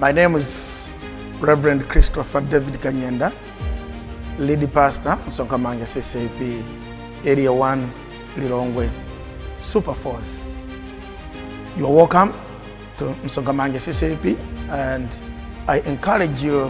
My name is Reverend Christopher David Kanyenda, lead pastor, Sokamanga CCP, Area 1, Lilongwe, Super Force. You are welcome to Msogamange CCP and I encourage you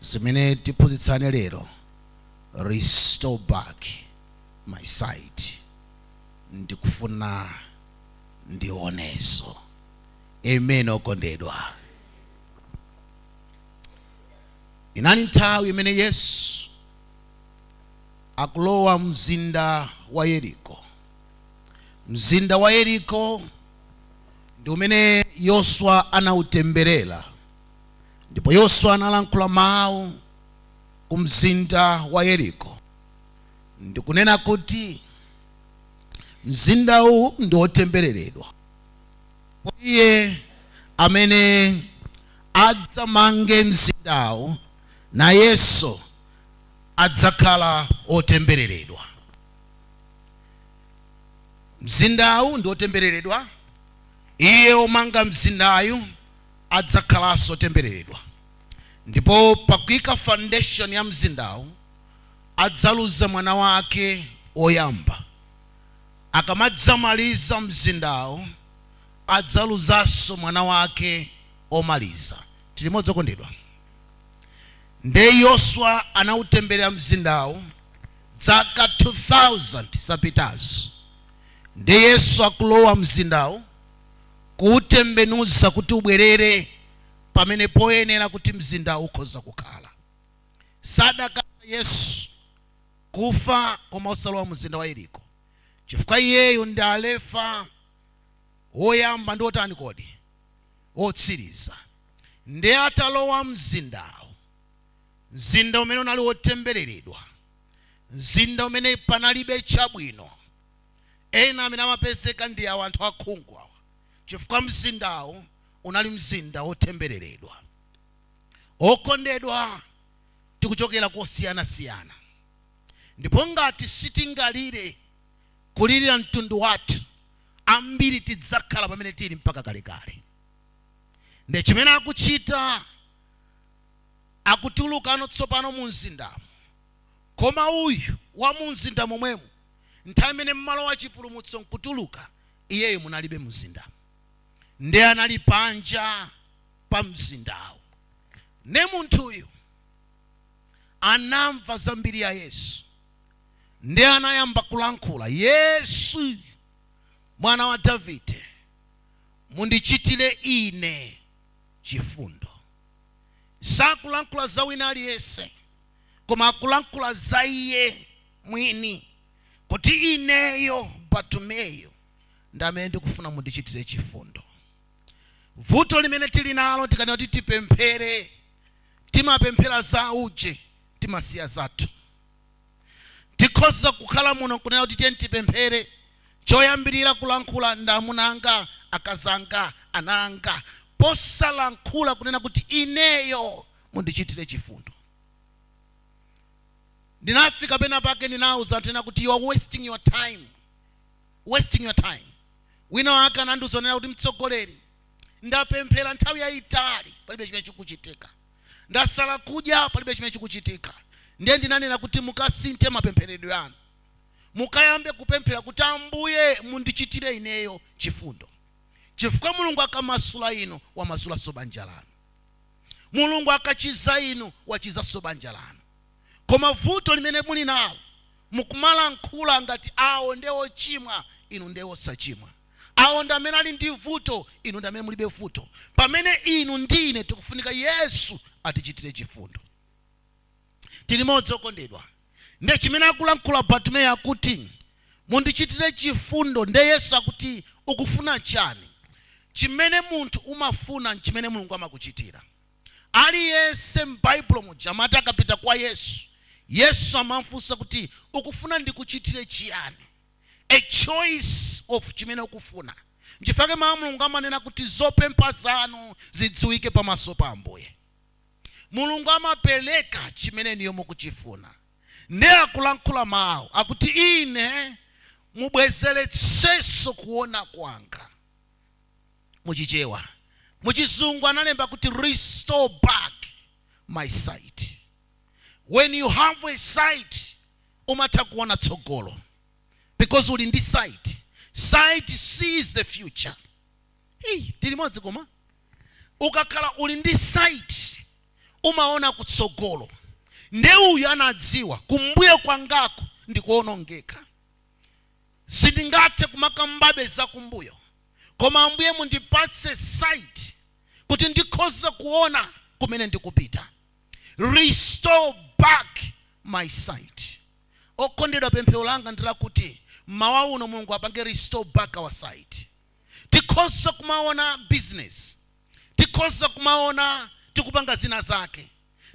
zimene tiphunzitsane lero restore back my sight ndikufuna ndionenso amen okondedwa inali nthawi imene yesu akulowa mzinda wa yeriko mzinda wa yeriko ndi umene yoswa anautemberera ndipo yoswa analankhula mawu ku mzinda wa yeriko ndikunena kuti mzindawu ndi wotembereredwa iye amene adzamange mzindawu nayenso adzakhala wotembereredwa mzindawu ndi wotembereredwa iye omanga mzindayu adzakhalanso otembeleredwa, ndipo pakuika foundation ya mzindawu adzaluza mwana wake woyamba, akamadzamaliza mzindawu adzaluzanso mwana wake omaliza. Tili limodzi okondedwa? Nde Yoswa anautembelera mzindawu dzaka 2000 zapitazo, nde Yesu akulowa mzindawu kuwutembenuza kuti ubwerere pamene poyenera kuti mzindawo ukhoza kukhala. Sadakatha Yesu kufa koma osalowa mzinda wa Yeriko, chifukwa iyeyo ndi Alefa, woyamba ndi wotani kodi? Wotsiriza. Ndiye atalowa mzindawo, mzinda umene unali wotembereredwa, mzinda umene panalibe chabwino. Ena amene amapezeka ndi awa, anthu akhungu awa, chifukwa mzindawo unali mzinda wotembereredwa. Okondedwa, tikuchokera kosiyanasiyana. Ndipo ngati sitingalire kulirira mtundu wathu, ambiri tidzakhala pamene tiri mpaka kalekale. Nde chimene akuchita akutulukano tsopano mu mzindamo. Koma uyu wa mu mzinda momwemu, nthawi imene mumalowa chipulumutso nkutuluka, iyeyo munalibe mu mzindamo. Ndiye anali panja pa mzindawo. Ndiye munthuyu anamva za mbiri ya Yesu, ndiye anayamba kulankhula, Yesu, Mwana wa Davide, mundichitire ine chifundo. Sakulankhula za wina aliyense. koma akulankhula za Iye mwini, kuti, Ineyo, Bartumeyo, ndi amene ndikufuna mundichitire chifundo. Vuto limene tili nalo, tikanena kuti tipemphere, timapemphera za auje, timasiya zathu. Tikhoza kukhala muno n'kunena kuti tiyeni tipemphere, choyambirira kulankhula ndi amuna anga, akazi anga, ana anga, posalankhula kunena kuti ineyo, Mundichitire chifundo. Ndinafika pena pake ndinauza anthu ena kuti you are wasting your time, wasting your time. Wina wake anandiuza kunena kuti mtsogoleri, ndapemphera nthawi yayitali palibe chimene chikuchitika, ndasala kudya palibe chimene chikuchitika. Ndiye ndinanena kuti mukasinthe mapempheredwe anu, mukayambe kupemphera kuti Ambuye mundichitire ineyo chifundo, chifukwa Mulungu akamasula inu wamasulanso banja lanu. Mulungu akachiza inu wachizanso banja lanu. Koma vuto limene muli nalo mukumalankhula ngati awo nde ochimwa inu nde osachimwa. Awo ndi amene ali ndi vuto inu ndi amene mulibe vuto pamene inu ndi ine tikufunika Yesu atichitire chifundo. Tilimodzi okondedwa. Nde chimene akulankhula Bartumeyo akuti mundichitire chifundo nde Yesu akuti ukufuna chani? Chimene munthu umafuna nchimene Mulungu amakuchitira. Aliyense m'Baibulo muja amati akapita kwa Yesu, Yesu amamfunsa kuti ukufuna ndikuchitire chiyani? A choice of chimene ukufuna. Nchifukwa chake mau a Mulungu amanena kuti zopempha zanu zidziwike pamaso pa Ambuye. Mulungu amapereka chimene inuyo mukuchifuna nde akulankhula mau akuti ine mubwezeretsenso kuona kwanga mu chichewa mu chizungu analemba kuti restore back my sight when you have a sight umatha kuona tsogolo because uli ndi sight sight sees the future hey, tilimodzi koma ukakhala uli ndi sight umaona kutsogolo nde uyu anadziwa kumbuyo kwangako ndikuonongeka sindingathe kumakambabe zakumbuyo koma ambuye mundipatse sight kuti ndikhoze kuona kumene ndikupita restore back my sight okondedwa pemphero langa ndilakuti mmawa uno mulungu apange restore back our sight tikhoza kumaona business, tikhoza kumaona tikupanga zina zake,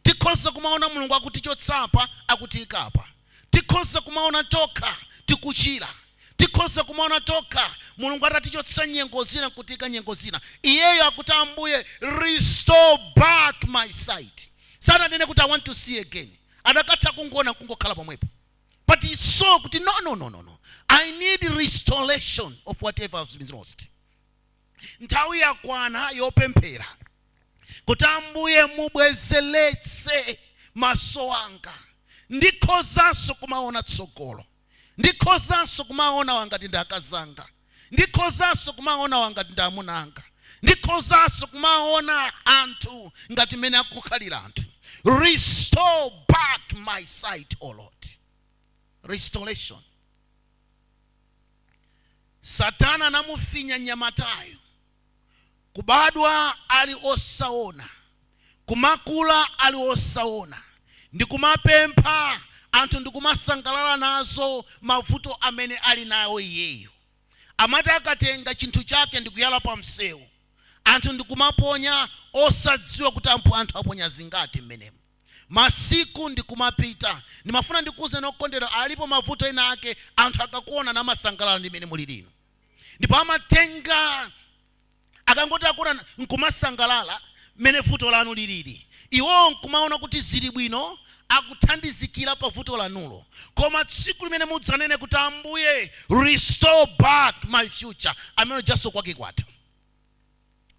tikhoza kumaona Mulungu akutichotsa apa akutiika apa, tikhoza kumaona tokha tikuchira, tikhoza kumaona tokha Mulungu atatichotsa nyengo zina nkutiika nyengo zina. Iyeyo akuti Ambuye restore back my sight. Sananene kuti I want to see again. Adakatha kungoona nkungokhala pomwepo. but he saw kuti no no no no no i need restoration of whatever has been lost nthawi yakwana yopemphera kuti ambuye mubwezeretse maso anga ndikhozanso kumaona tsogolo ndikhozanso kumaona awa ngati ndi akazanga Ndikhozanso kumaona awa ngati ndi amuna anga. Ndikhozanso kumaona anthu ngati mmene akukhalira anthu. Restore back my sight, O Lord. Restoration. Satana anamufinya mnyamatayo. kubadwa ali osawona, kumakula ali osawona, ndi kumapempha anthu ndi kumasangalala nazo mavuto amene ali nawo iyeyo. Amati akatenga chinthu chake ndi kuyala pa msewu, anthu ndi kumaponya osadziwa kuti anthu aponya zingati mmenemo. Masiku ndi kumapita. Ndimafuna ndikuwuzeni okondedwa, alipo mavuto ena ake anthu akakuwonani amasangalala ndi mmene mulili inu. ndipo amatenga akangoti akuona nkumasangalala mmene vuto lanu lilili iwowo nkumaona kuti zili bwino akuthandizikira pa vuto lanulo koma tsiku limene mudzanene kuti ambuye restore back my future amene ujaso kwake kwatha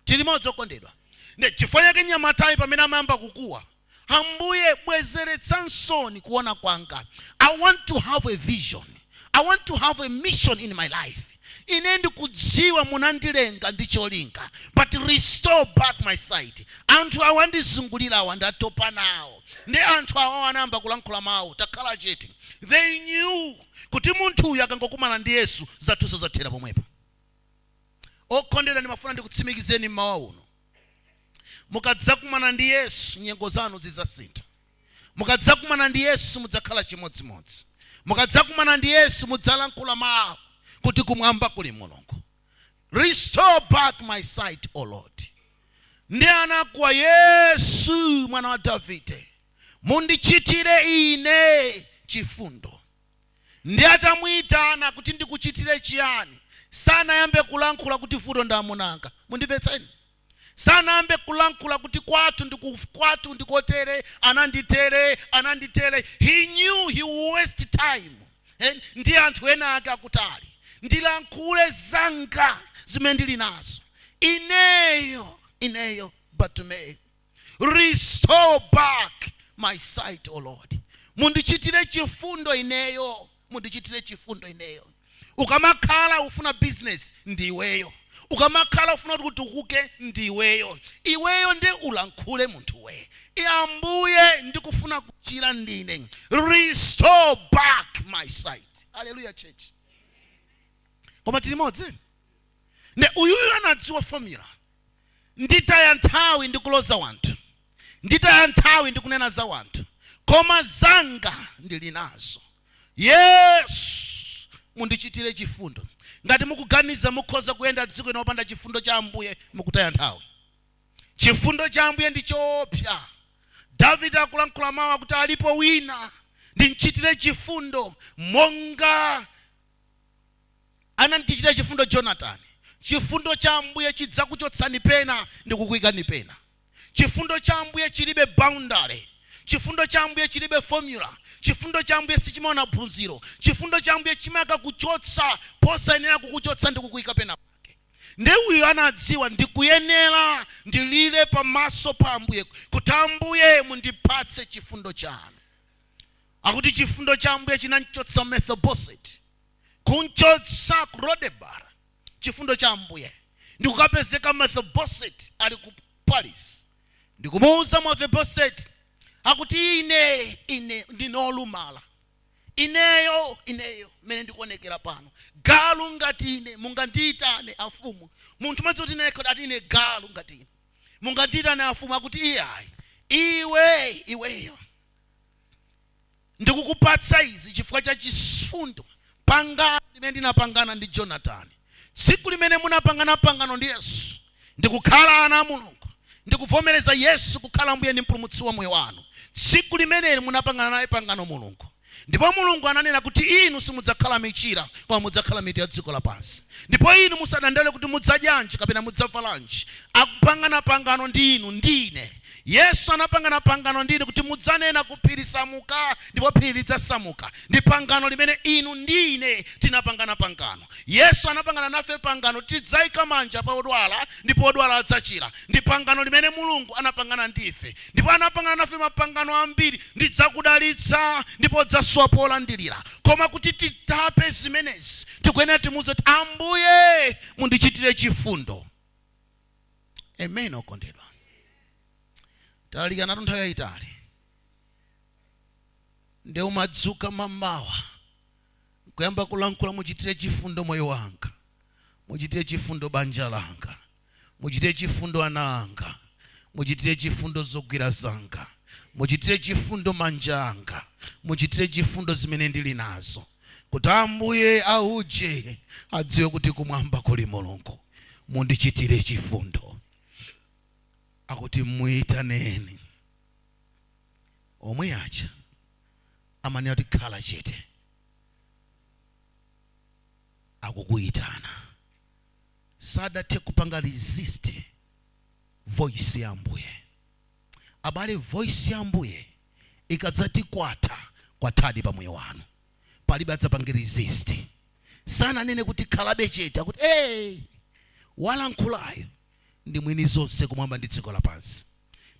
Tilimodzi okondedwa. Nde chifukwa chake mnyamatayu pamene amayamba kukuwa, Ambuye, bwezeretsansoni kuona kwanga. I want to have a vision. I want to have a mission in my life. Ine ndikudziwa munandilenga ndi cholinga, but restore back my sight. Anthu awa andizungulira awa ndatopa nawo. Nde anthu awa anayamba kulankhula mawu, takhala chete. They knew kuti munthu uyu akangokumana ndi Yesu, zathuso zathera pomwepo. Okondedwa, ndimafuna ndikutsimikizeni mmawa uno, mukadzakumana ndi Yesu, nyengo zanu zidzasintha. Mukadzakumana ndi Yesu, simudzakhala chimodzimodzi. Mukadzakumana ndi Yesu, mudzalankhula mawu, kuti, Kumwamba kuli Mulungu. Restore back my sight, O Lord. Ndi anakuwa, Yesu, Mwana wa Davide, mundichitire ine chifundo. Ndiye atamuitana kuti ndikuchitire chiyani? Sanayambe kulankhula kuti vuto ndi amuna anga. Mundimvetse ine. Sanayambe kulankhula kuti kwathu ndi ku, kwathu ndi kotere, ananditere, ananditere. He knew he will waste time. And ndi anthu enaake akutali. Ndilankhule zanga zimene ndili nazo. Ineyo, ineyo Bartumeyo. Restore back my sight, O Lord. Mundichitire chifundo ineyo, mundichitire chifundo ineyo. Ukamakhala ufuna business ndi iweyo. Ukamakhala ufuna kuti utukuke ndi iweyo. Iweyo ndi ulankhule munthu we. E Ambuye ndikufuna kuchira ndine. Restore back my sight. Hallelujah church. Koma tili limodzi. Nde uyuyu anadziwa formula. Nditaya nthawi ndi kuloza wanthu, nditaya nthawi ndi kunena za wanthu, koma zanga ndili nazo. Yesu, mundichitire chifundo. Ngati mukuganiza mukhoza kuyenda dziko lino opanda chifundo cha Ambuye, mukutaya nthawi. Chifundo cha Ambuye ndi choopsa. Davide akulankhula mawu kuti alipo wina ndimchitire chifundo monga. anandichitira chifundo Jonatani, chifundo cha Ambuye chidzakuchotsani pena ndikukuikani pena. Chifundo cha Ambuye chilibe boundary. Chifundo cha Ambuye chilibe formula. Chifundo cha Ambuye sichimaona phunziro. Chifundo cha Ambuye chimakakuchotsa posayenera kukuchotsa ndi kukuika pena pake. Nde uyu anadziwa ndikuyenera ndilire pamaso pa Ambuye kuti Ambuye mundipatse chifundo chanu. Akuti chifundo cha Ambuye chinamchotsa Mephibosheti. kumchotsa ku Lodebar chifundo cha Ambuye ndi kukapezeka Mefiboseti ali ku palace ndi kumuwuza Mefiboseti akuti ine ine ndine olumala ineyo ineyo mmene ndikuonekera pano galu ngati ine mungandiyitane amfumu munthu madzi kuti naye ati ine galu ngati ine mungandiyitane amfumu akuti iyayi iwe iweyo Ndikukupatsa izi chifukwa cha chifundo, pangano limene ndinapangana ndi Jonatani, tsiku limene munapangana pangano ndi Yesu, ndi kukhala ana a Mulungu, ndi kuvomereza Yesu kukhala Ambuye ndi Mpulumutsi wa moyo wanu. Tsiku limeneli munapangana naye pangano Mulungu. Ndipo Mulungu ananena kuti inu simudzakhala michira, koma mudzakhala mitu ya dziko lapansi. Ndipo inu musadandaule kuti mudzadyanji kapena mudzavalanji. Akupangana pangano ndi inu, ndi ine. Yesu anapangana pangano ndi ine kuti mudzanena ku phiri, Samuka, ndipo phiri lidzasamuka. Ndi pangano limene inu ndi ine tinapangana pangano. Yesu anapangana nafe pangano tidzaika manja pa odwala ndipo odwala adzachira. Ndi pangano limene Mulungu anapangana ndi ife. Ndipo anapangana nafe mapangano ambiri, Ndidzakudalitsa ndipo udzasowa polandirira. Koma kuti titape zimenezi, tikuyenera timuuze kuti, Ambuye, mundichitire chifundo. amen okondedwa talalikana nthawi yayitali nde umadzuka mamawa kuyamba kulankhula muchitire chifundo moyo wanga muchitire chifundo banja langa muchitire chifundo ana anga muchitire chifundo zogwira zanga muchitire chifundo manja anga muchitire chifundo zimene ndili nazo kuti Ambuye auje adziwe kuti kumwamba kuli Mulungu. Mundichitire chifundo. Akuti muitaneni omwe aja amanena kuti khala chete, akukuyitana sadathe kupanga resist voice ya Ambuye. Abale voice ya ambuye ikadzati kwatha kwathadi pa moyo wanu palibe adzapange resist. Sananene kuti khalabe chete akuti ee! Walankhulayo ndi mwini zonse kumwamba ndi dziko lapansi.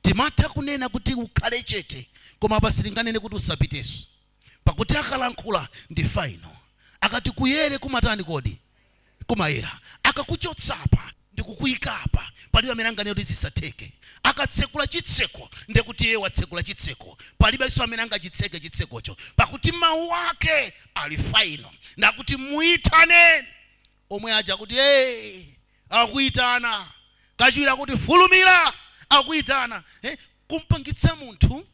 Timatha kunena kuti ukhale chete koma apa sitinganene kuti usapiteso. pakuti akalankhula ndi final akati kuyere kumatani kodi kumayera akakuchotsapa ndikukuikapa palibe amene anganene kuti zisatheke akatsekula chitseko ndiye kuti iye watsekula chitseko palibenso amene angachitseke chitsekocho pakuti mawu ake ali final nde akuti muitaneni omwe aja kuti hey, akuitana kachiwiri akuti fulumira akuitana eh, kumpangitsa munthu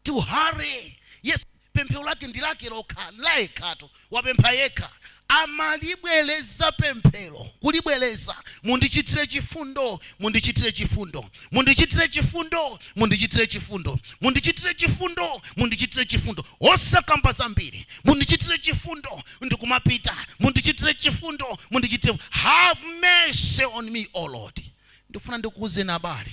to hurry yes pemphero lake ndi lake lokha la yekhatu wapempha yekha amalibwereza pemphero kulibwereza mundichitire chifundo mundichitire chifundo mundichitire chifundo mundichitire chifundo mundichitire chifundo mundichitire chifundo osakamba zambiri mundichitire chifundo ndikumapita mundichitire chifundo mundichitire have mercy on me o lord ndifuna ndikuwuzeni abale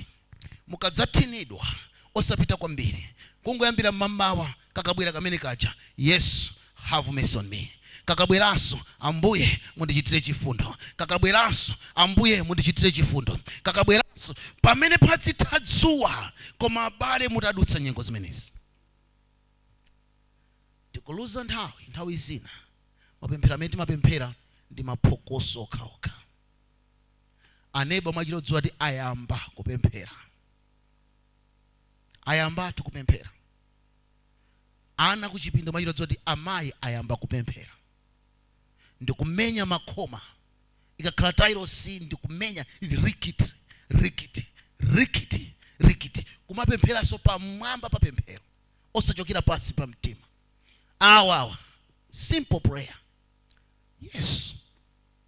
Mukadzathinidwa, osapita kwambiri, kungoyambira mmamawa kakabwera kamene kaja, Yesu, have mercy on me, kakabweranso, Ambuye, mundichitire chifundo, kakabweranso, Ambuye, mundichitire chifundo, kakabweranso, pamene padzitha dzuwa. Koma, abale, mutadutsa nyengo zimenezi. Tikuluza nthawi, nthawi zina, mapemphero amene timapemphera ndi maphokoso okhaokha. aneba mwachita kudziwa kuti ayamba kupemphera ayambatu kupemphera ana kuchipinda mwachita kudziwa kuti amayi ayamba kupemphera ndikumenya makhoma ikakhala tailosi ndikumenya ili rikiti rikiti rikiti rikiti kumapempheranso pamwamba pa pemphero osachokera pansi pa mtima awawa simple prayer yes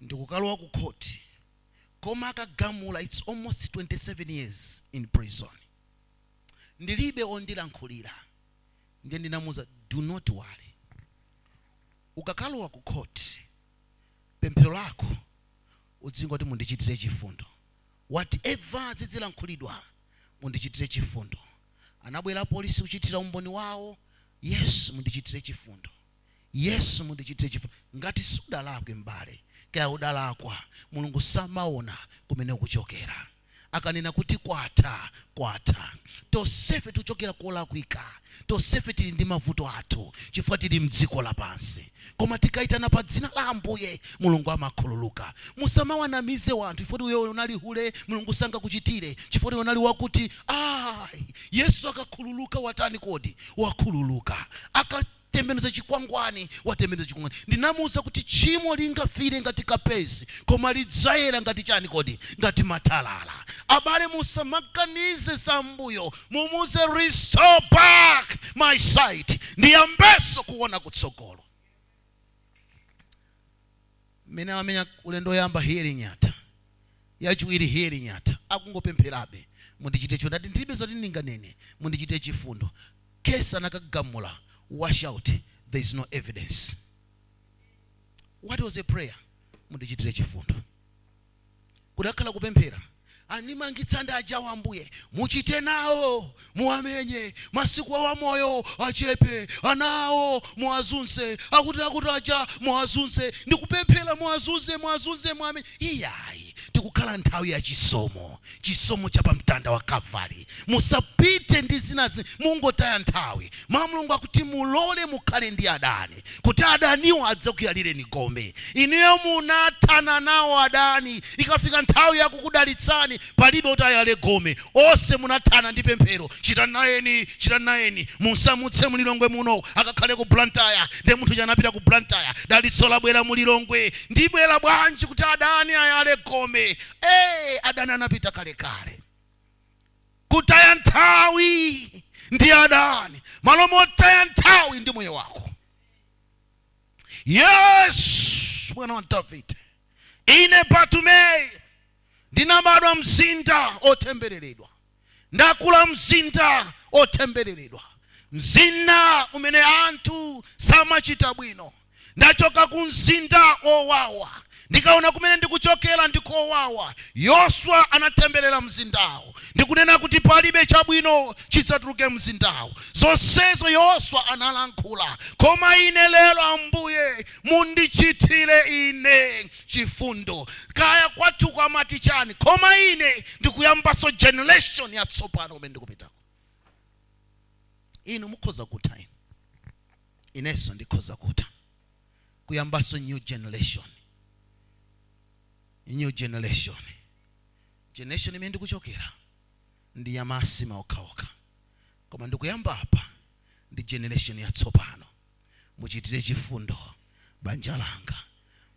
ndikukalowa ku court koma akagamula its almost 27 years in prison ndilibe ondilankhulira ndiye ndinamuuza do not worry ukakalowa ku court pemphero lako udzingoti mundichitire chifundo whatever zidzilankhulidwa mundichitire chifundo anabwera polisi kuchitira umboni wawo yesu mundichitire chifundo Yesu, mundichitire chifundo. Ngati sudalakwe, m'bale, kaya udalakwa, Mulungu samaona kumene ukuchokera. Akanena kuti kwatha, kwatha. Tonsefe tikuchokera kolakwika. Tonsefe tili ndi mavuto athu chifukwa tili m'dziko lapansi. Koma tikaitana pa dzina la Ambuye, Mulungu amakhululuka. Musamawanamize wanthu chifukwa iwe unali hule, Mulungu sangakuchitire chifukwa iwe unali wakuti. Ayi, Yesu akakhululuka watani kodi? Wakhululuka. Aka. tembenuza chikwangwani watembenuza chikwangwani ndinamuuza kuti tchimo lingafiire ngati kapezi koma lidzayera ngati chani kodi ngati matalala abale musamaganize za mbuyo mumuuze restore back my sight ndiyambenso kuona kutsogolo mmene amamenya ulendo woyamba hearing yatha yachiwiri hearing yatha akungopempherabe mundichitire chifundo ndati ndilibe zoti ndinganene mundichitire chifundo case anakagamula washout there is no evidence what was a prayer mundichitire chifundo kudakhala kupemphera. Animangitsa ndi ajawo Ambuye muchite nawo muwamenye masiku awo a moyo achepe ana awo muwazunze akuti akuti aja muwazunze ndikupemphera muwazunze muwazunze muwamenye iyayi tikukhala nthawi ya chisomo chisomo cha pa mtanda wa Kalvari. Musapite ndi zinazi, mungotaya nthawi. Mawu a Mulungu akuti mulole mukhale ndi adani, kuti adaniwo adzakuyalireni gome. Inuyo munathana nawo adani, ikafika nthawi ya kukudalitsani palibe oti ayale gome. Onse munathana ndi pemphero, chita nayeni, chita nayeni. Musamutse mu Lilongwe muno, akakhale ku Blantyre. Ndiye munthu uja anapita ku Blantyre, dalitso labwera mu Lilongwe. Ndibwera bwanji kuti adani ayale gome? ee adani anapita kalekale kutaya nthawi ndi adani malo motaya nthawi ndi moyo wako yesu mwana wa davide ine batumeyo ndinabadwa mzinda otembereredwa Ndakula m'mzinda wotembereredwa, mzinda umene anthu samachita bwino. Ndachoka ku mzinda wowawa. Ndikaona kumene ndikuchokera ndi kowawa. Yoswa anatemberera mzindawo ndi kunena kuti palibe chabwino chidzatuluke m'mzindawo. Zonsezo Yoswa analankhula. Koma ine lero, Ambuye, mundichitire ine chifundo kaya kwathuko amati chani koma ine ndikuyambaso generation yatsopano kumene ndikupitako inu mukhoza kutha inu inenso ndikhoza kutha kuyambaso new generation new generation generation imene ndikuchokera ndi yamasimba okhaokha koma ndikuyamba apa ndi generation yatsopano Muchitire chifundo banja langa.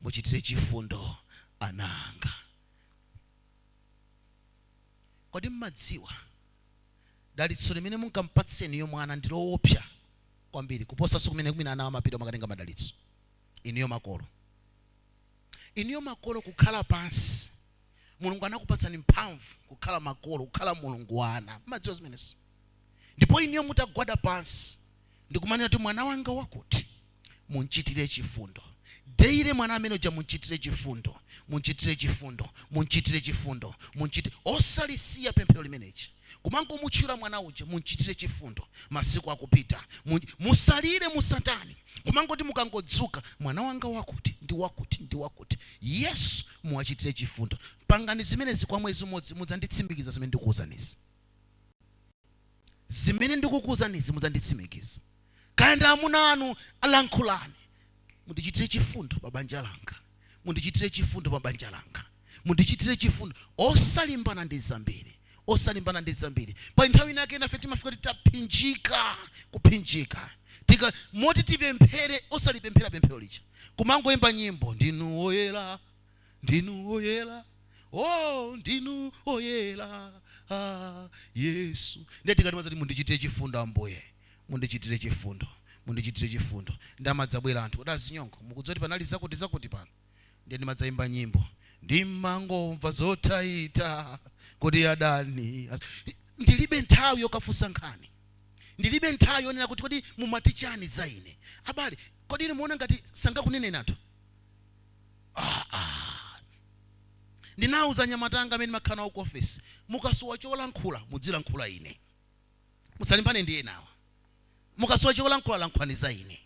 Muchitire chifundo ana anga. Kodi mumadziwa? Dalitso limene mungampatse inuyo mwana ndi loopsa kwambiri kuposanso kumene kwina ana amapita kukatenga madalitso. Inuyo makolo. Inuyo makolo kukhala pansi. Mulungu anakupatsani mphamvu kukhala makolo, kukhala Mulungu wa ana. Mumadziwa zimenezo? Ndipo inuyo mutagwada pansi ndi kumanena kuti, Mwana wanga wakuti, munchitire chifundo. Daily mwana amene uja munchitire chifundo, munchitire chifundo, munchitire chifundo, munchitire. Osalisiya pemphero limeneli. Kumangomutchula mwana uja, munchitire chifundo. Masiku akupita. Musalire, musatani. Kumangoti mukangodzuka, mwana wanga wakuti, ndi wakuti, ndi wakuti. Yesu muwachitire chifundo. Pangani zimenezi kwa mwezi umodzi, mudzanditsimikiza zimene ndikuwuzanizi. zimene ndikukuuzanizi mudzanditsimikiza. Kaya ndi amuna anu, lankhulani. Mundichitire chifundo pa banja langa, mundichitire chifundo pa banja langa, mundichitire chifundo. Osalimbana ndi zambiri, osalimbana ndi zambiri. Pali nthawi inake nafe timafika poti taphinjika, kuphinjika ti moti tipemphere, osalipemphera pemphero lija, kumangoyimba nyimbo ndinu woyera ndinu oyera oh ndinu oyera ah, yesu ndiye tikadati mwazakuti mundichitire chifundo ambuye mundichitire chifundo mundichitire chifundo ndi amadzabwera anthu odazinyongo mukudziwa kuti panali zakuti zakuti pano ndiye ndimadzayimba nyimbo ndimangomva zotaita kodi adani ndilibe nthawi yokafunsa nkhani ndilibe nthawi yonena kuti kodi mumati chani za ine abale kodi ine muona ngati sangakunene anthu Ah, ah. ndinawuza anyamata anga amene ndimakhala nawo ku ofesi mukasowa cholankhula mudzilankhula ine musalimbane ndi enawa mukasowa cholankhula lankhulani za ine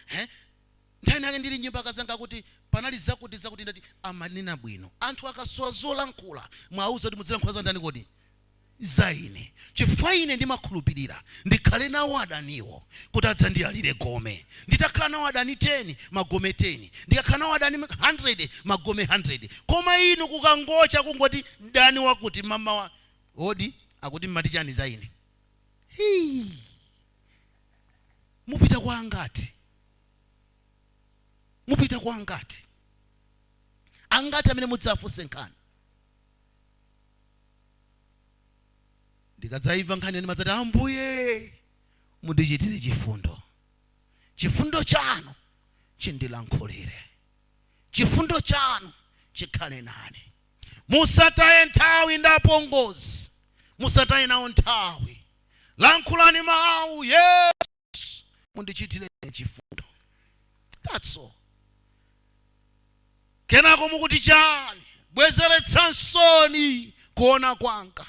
Eh? nthawi nake ndili m'nyumba akazanga kuti panali zakuti zakuti ndati amanena bwino anthu akasowa zolankhula mwauza kuti mudzilankhula za ndani kodi za ine, chifukwa ine ndimakhulupirira ndikhale nawo adaniwo, kuti adzandiyalire gome. Nditakhala nawo adani teni, magome teni, ndikakhala nawo adani handirede, magome handirede. Koma inu kukangocha, kungoti, Mdani wakuti, mamawa, Odi, akuti, mmati chani za ine? Hii! Mupita kwa angati? Mupita kwa angati? Angati amene mudzawafunse nkhani? ndikadzaimva nkhaniyi ndimadzati ambuye mundichitire chifundo chifundo chanu chindilankhulire chifundo chanu chikhale nane musataye nthawi ndapongozi musataye nawo nthawi lankhulani mawu yesu yesu mundichitire ine chifundo that's all kenako mukuti chani bwezeretsansoni kuona kwanga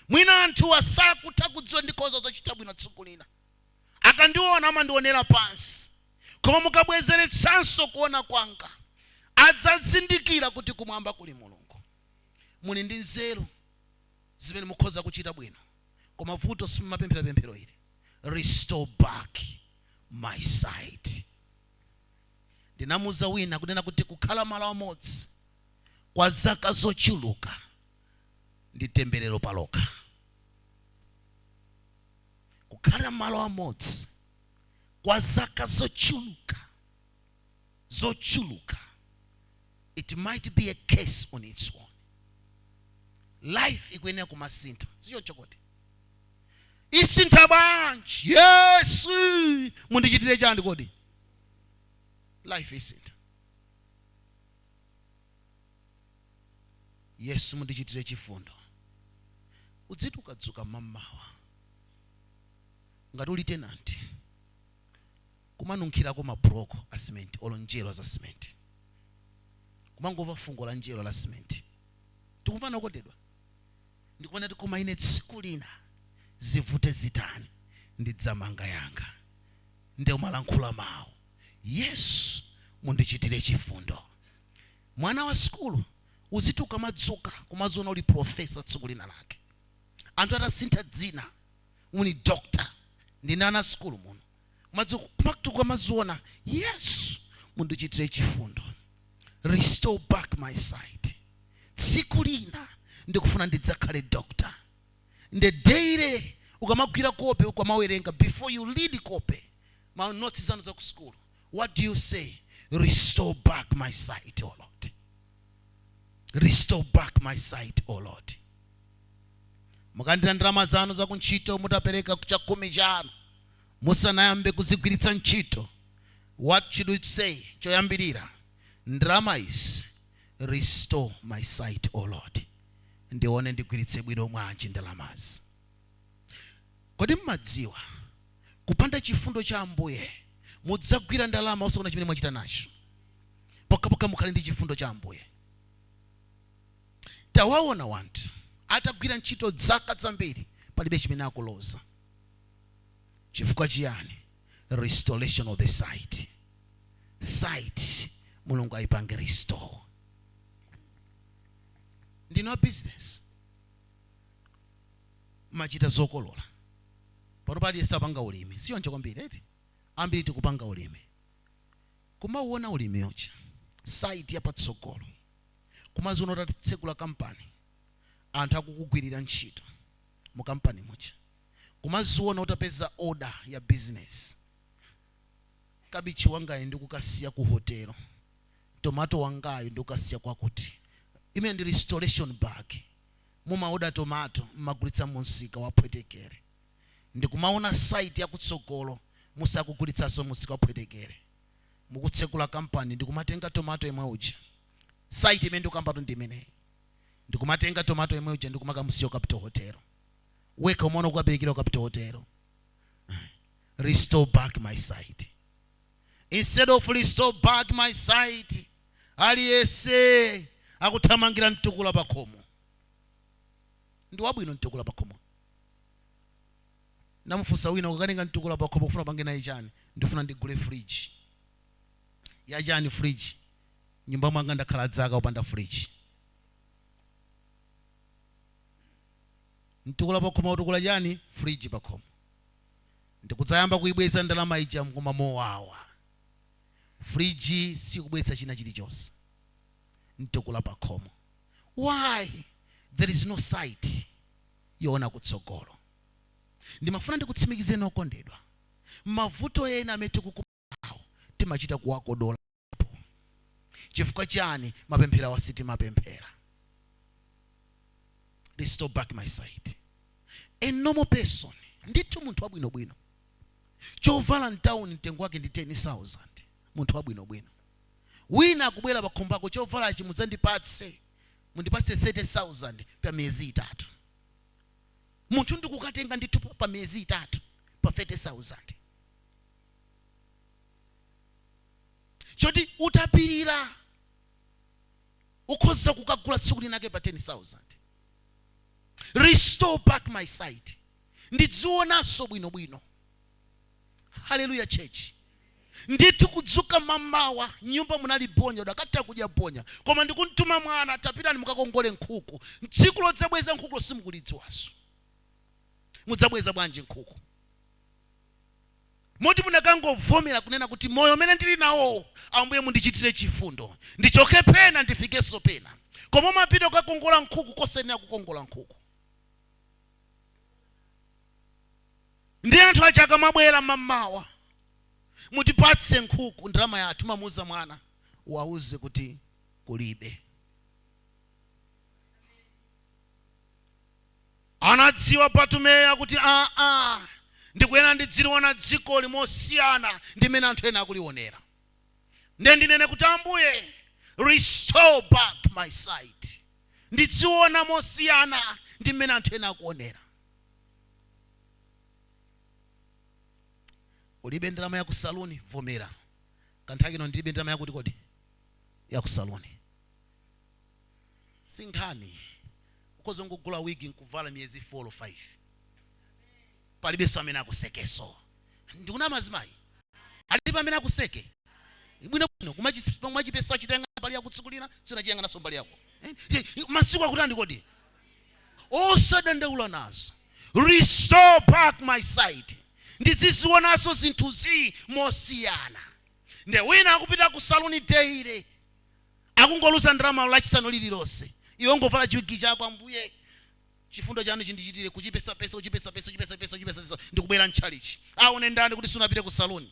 mwina anthuwa sakutha kudziwa ndikhoza kudzachita bwino tsiku lina akandiona amandionera pansi koma mukabwezeretsanso kuona kwanga adzazindikira kuti kumwamba kuli mulungu muli ndi nzeru zimene mukhoza kuchita bwino koma vuto simumapemphera pemphero ili restore back my sight ndinamuuza wina kunena kuti kukhala malo amodzi kwa zaka zochuluka ndi temberero palokha kukhala malo amodzi kwa zaka zochuluka zochuluka it might be a curse on its own life ikuyenera kumasintha sichoncho kodi isintha bwanji yesu mundichitire chani kodi life isintha yesu mundichitire chifundo udziti ukadzuka mamawa ngati uli tenanti kumanunkhirako mabloko a cement olo njerwa za cement kumangomva fungo la njerwa la cement tikumvana okondedwa ndikumanena kuti koma ine tsiku lina zivute zitani ndidzamanga yanga nde umalankhula mawu yesu mundichitire chifundo mwana wa sukulu uziti ukamadzuka kumaziona uli profesa tsiku lina lake anthu atasintha dzina muli doctor ndi ana a sukulu muno madzulo kumatu kumaziona yesu mundichitire chifundo restore back my sight tsiku lina ndikufuna ndidzakhale doctor nde daily ukamagwira kope ukamawerenga before you read kope ma notes zanu za ku school what do you say restore back my sight o lord restore back my sight o lord mukalandira ndalama zanu zakuntchito mutapereka chakhumi chanu musanayambe kuzigwiritsa ntchito what should we say choyambirira ndalama izi restore my sight o lord ndione ndigwiritse bwino mwanji ndalamazi Kodi mumadziwa? Kupanda chifundo cha Ambuye, mudzagwira ndalama osakaona chimene mwachita nacho. Pokhapokha mukhale ndi chifundo cha Ambuye. Tawaona wanthu atagwira ntchito dzaka dzambiri, palibe chimene akuloza. Chifukwa chiyani? Restoration of the sight. Sight, Mulungu ayipange restore. Ndinu a business. mumachita zokolola panopa aliyense apanga ulimi sichoncho kwambiri eti ambiri tikupanga ulimi kumauona ulimi uja sight yapatsogolo kumaziona utatsegula kampani anthu akukugwirira ntchito mu kampani muja kumaziona utapeza order ya business kabichi wangayu ndikukasiya ku hotelo tomato wangayu ndikukasiya kwakuti imene ndi restoration back mumaoda tomato mmagulitsa munsika waphwetekere ndikumaona sight yakutsogolo musakugulitsaso musika waphwetekere mukutsekula company ndikumatenga tomato yemwe uja sight imene ndikukambatu ndiimeneyi ndikumatenga tomato yemwe uja ndikumakamusiya capital hotel wekha umaona ukukaperekera capital hotel restore back my sight. instead of restore back my sight aliyese akuthamangira mtukula pakhomo ndi wabwino mtukula pakhomo namufunsa wina ukukatenga mtukula pakhomo ukufuna upange naye chani ndifuna ndigule fridge ya chani fridge nyumba mwanga ndakhala dzaka opanda fridge mtukula pakhomo utukula chani fridge pakhomo ndikudzayamba kuibweza ndalama ija mkoma mowawa. fridge sikubweretsa china chilichonse. mtukula pakhomo. why there is no sight yoona kutsogolo. ndimafuna ndikutsimikizeni okondedwa mavuto ena amene tikuku. awo timachita kuwakodolapo chifukwa chani mapempherowa sitimapemphera restore back my sight a normal person ndithu munthu wabwinobwino chovala mtawuni mtengo wake ndi 10000 munthu wabwinobwino wina akubwera pakhomo pako chovalachi mudzandipatse mundipatse 30000 pa miyezi itatu munthu ndikukatenga ndithu pa miyezi itatu pa 30000 choti utapirira ukhoza kukagula tsiku linake pa 10000 restore back my sight ndidzionanso bwinobwino haleluya church ndithu kudzuka mamawa nyumba munali bonya udakatha kudya bonya koma ndikumtuma mwana tapitani mukakongole nkhuku tsiku lodzabweza nkhukulo simukulidziwanso mudzabweza bwanji nkhuku moti munakangovomera kunena kuti moyo umene ndili nawowu Ambuye mundichitire chifundo, ndichoke pena ndifikenso pena. Koma umapita kukakongola nkhuku kosayenera kukongola nkhuku. Ndiye anthu aja akamabwera mammawa, mutipatse nkhuku, ndalama yathu. Umamuuza mwana, uwauze kuti kulibe. Anadziwa Batumeyo kuti aa, ndikuyenera ndidziliona dzikoli mosiyana ndi mmene anthu ena akulionera. Nde ndinene kuti Ambuye restore back my sight. Ndidziona mosiyana ndi mmene anthu ena akuonera. Ulibe ndalama ya ku saluni? Vomera. Kanthawi kino ndilibe ndalama yakuti kodi? Ya ku saluni. sinkhani ukhoza kungogula wigi nkuvala miyezi 4 or 5 palibenso amene akusekeso ndikunama azimayi alipi amene akuseke bwino bwino kumachipesa china mbali yaku tsiku lina sunachiyang'ananso mbali yako eh? eh masiku akutani kodi osadandaula nazo restore back my sight ndizizionanso zinthuzi mosiyana nde wina akupita ku saluni daily akungoluza ndalamayo Lachisanu lirilonse. Iwe ungovala chiwigi chako, Ambuye, chifundo Chanu chindichitire, kuchipesapesa, kuchipesapesa, ndi kubwera mtchalitchi. Awone ndani kuti sunapite ku saluni,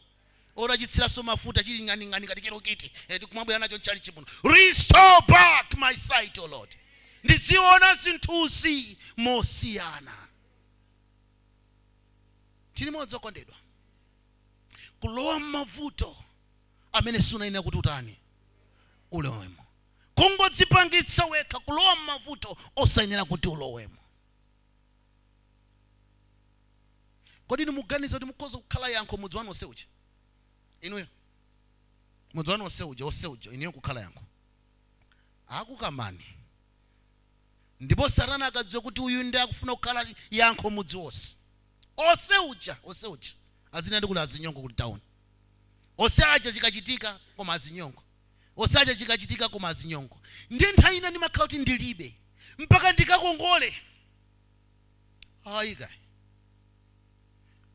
utachitsiranso mafuta, chiri ng'aning'ani ngati chirukiti, ndikumabwera nacho mtchalitchi muno. Restore back my sight, O Lord. Ndidziwona zinthuzi mosiyana. Tiri modzi, okondedwa, kulowa mmavuto. amene siunayenera kuti utani? ulowemo. Kungodzipangitsa wekha kulowa m'mavuto osayenera kuti ulowemo. Kodi inu mukuganiza kuti mukhoza kukhala yankho mudzi wanu onse uja? Inuyo? Mudzi wanu onse uja, onse uja, inuyo kukhala yankho? Akukamani. Ndipo Satana akadziwa kuti uyu ndiye akufuna kukhala yankho mudzi wonse. ose uja ose uja azinandi kuti azinyongo ku town ose aja chikachitika koma azinyongo ose aja chikachitika koma azinyongo ndiye nthawi ina ndimakhala kuti ndilibe mpaka ndikakongole ayi kayi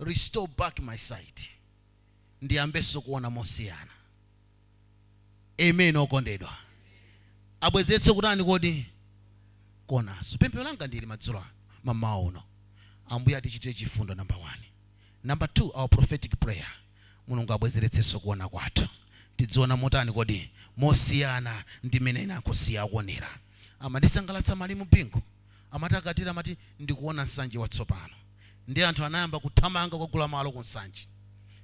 restore back my sight ndiyambenso kuona mosiyana Amen, okondedwa. Abwezeretse ku tani kodi? Kuonanso. Pemphero langa ndi ili madzulo ano, mammawa uno, Ambuye atichitire chifundo, namba wani. Namba thuu, our prophetic prayer, Mulungu abwezeretsenso kuona kwathu. Tidziona motani kodi? Mosiyana ndi mmene ena akusiya akuonera. Amandisangalatsa Malemu Bingu. Amati akatero amati, Ndikuona Nsanje watsopano. Ndiye anthu anayamba kuthamanga kukagula malo ku Nsanje.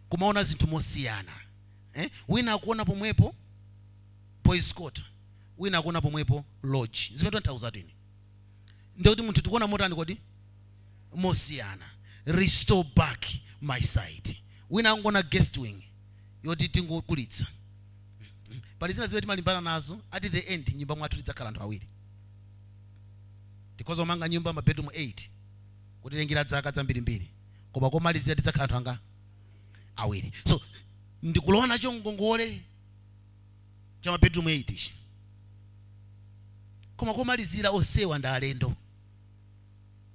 Kumaona zinthu mosiyana. eh? wina akuona pomwepo boys quarter wina akuona pomwepo lodge zimene tikutanthauza ndi zoti munthu tikuona motani kodi mosiyana restore back my sight wina akungoona guest wing yoti tingokulitsa pali zina zimene timalimbana nazo at the end nyumba mwathu tidzakhala anthu awiri tikhoza kumanga nyumba mabedroom 8 kutilengera dzaka zambirimbiri koma komalizira tidzakhala anthu a awiri so ndikulowa nacho ngongole cha mabedroom 8 ichi koma komalizira onsewa ndi alendo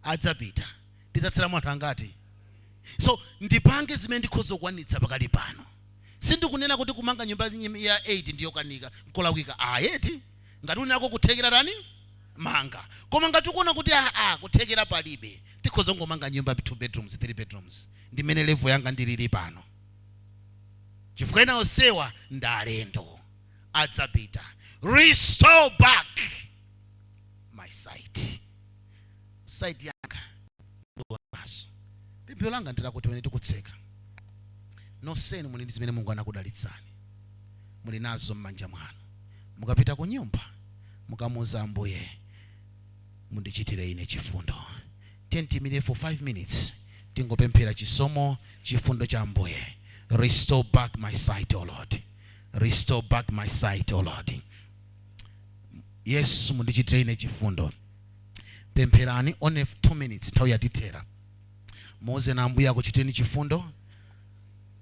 adzapita tidzatsala anthu angati so ndipange zimene ndikhoza kukwanitsa pakali pano sindikunena kuti kumanga nyumba ya 8 ndiyokanika nkolakwika ayi ngati uli nako kuthekera tani manga koma ngati ukuona kuti aa kuthekera palibe tikhoza kungomanga nyumba 2 bedrooms 3 bedrooms ndi mmene level yanga ndilili pano chifukwa ena onsewa ndi alendo adzapita restore back my sight sight yanga ndionenso pemphero langa ndilakuti pamene tikutseka noseni muli ndi zimene mulungu anakudalitsani muli nazo m'manja mwanu mukapita ku nyumba mukamuuza ambuye mundichitire ine chifundo Tiyimirire for 5 minutes tingopemphera chisomo chifundo cha Ambuye. Restore back my sight, O Lord. Restore back my sight, O Lord. Yesu mundichitire ine chifundo. Pempherani only 2 minutes nthawi yatithera. Muuzeni Ambuye akuchitireni chifundo.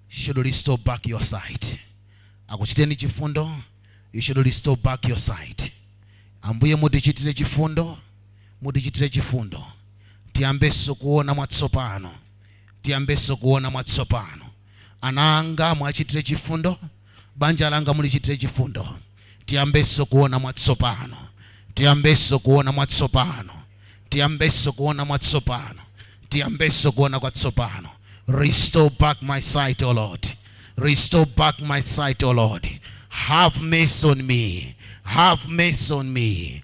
Should restore back your sight. Akuchitireni chifundo. You should restore back your sight. Ambuye mutichitire chifundo. Mutichitire chifundo. Tiyambenso kuona mwatsopano. Tiyambenso kuona mwatsopano. Ana anga muwachitire chifundo. Banja langa mulichitire chifundo. Tiyambenso kuona mwatsopano. Tiyambenso kuona mwatsopano. Tiyambenso kuona mwatsopano. Tiyambenso kuona kwatsopano. Restore back my sight, O Lord. Restore back my sight, O Lord. Have mercy on me. Have mercy on me.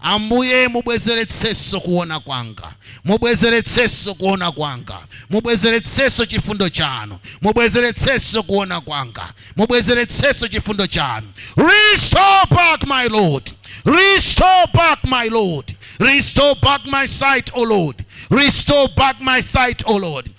Ambuye, mubwezeretsenso kuwona kwanga, mubwezeretsenso kuwona kwanga, mubwezeretsenso chifundo Chanu, mubwezeretsenso kuwona kwanga, mubwezeretsenso chifundo Chanu. Restore back, my Lord. Restore back, my Lord. Restore back my sight, O Lord. Restore back my sight, O Lord.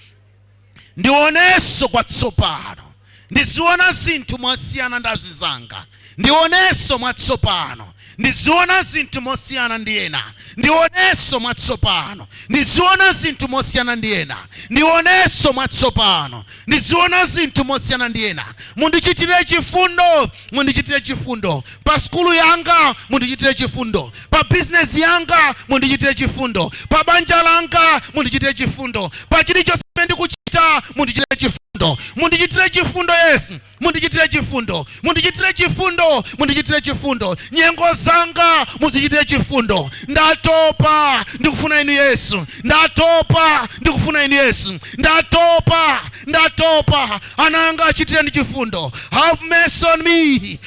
ndionenso kwatsopano, ndiziona zinthu mosiyana ndi azinzanga, ndionenso mwatsopano, ndiziona zinthu mosiyana ndi ena, ndionenso mwatsopano, ndiziona zinthu mosiyana ndi ena, ndionenso mwatsopano, ndiziona zinthu mosiyana ndi ena, mundichitire chifundo, mundichitire chifundo, pa sukulu yanga mundichitire chifundo pa bizinesi yanga mundichitire chifundo pa banja langa mundichitire chifundo pa chilichonse ndikuchita mundichitire chifundo mundichitire chifundo yesu mundichitire chifundo mundichitire chifundo mundichitire chifundo nyengo zanga muzichitire chifundo ndatopa ndikufuna inu yesu ndatopa ndikufuna inu yesu ndatopa ndatopa ana anga achitireni chifundo have mercy on me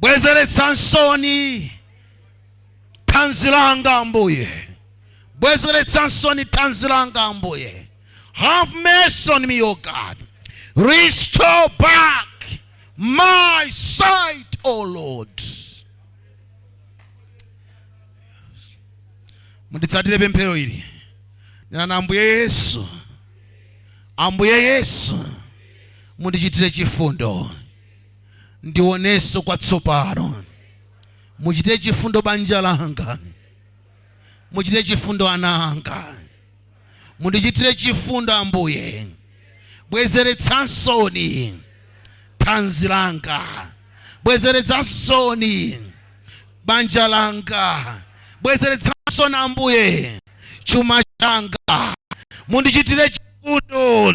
bwezeretsansoni thanzi langa ambuye bwezeretsansoni thanzi langa ambuye have mercy on me o god restore back my sight o lord munditsatire pemphero ili nenani ambuye yesu ambuye yesu mundichitire chifundo ndionenso kwatsopano. Muchitire chifundo banja langa, muchitire chifundo ana anga, mundichitire chifundo Ambuye. Bwezeretsansoni thanzi langa, bwezeretsansoni banja langa, bwezeretsansoni Ambuye chuma changa, mundichitire chifundo.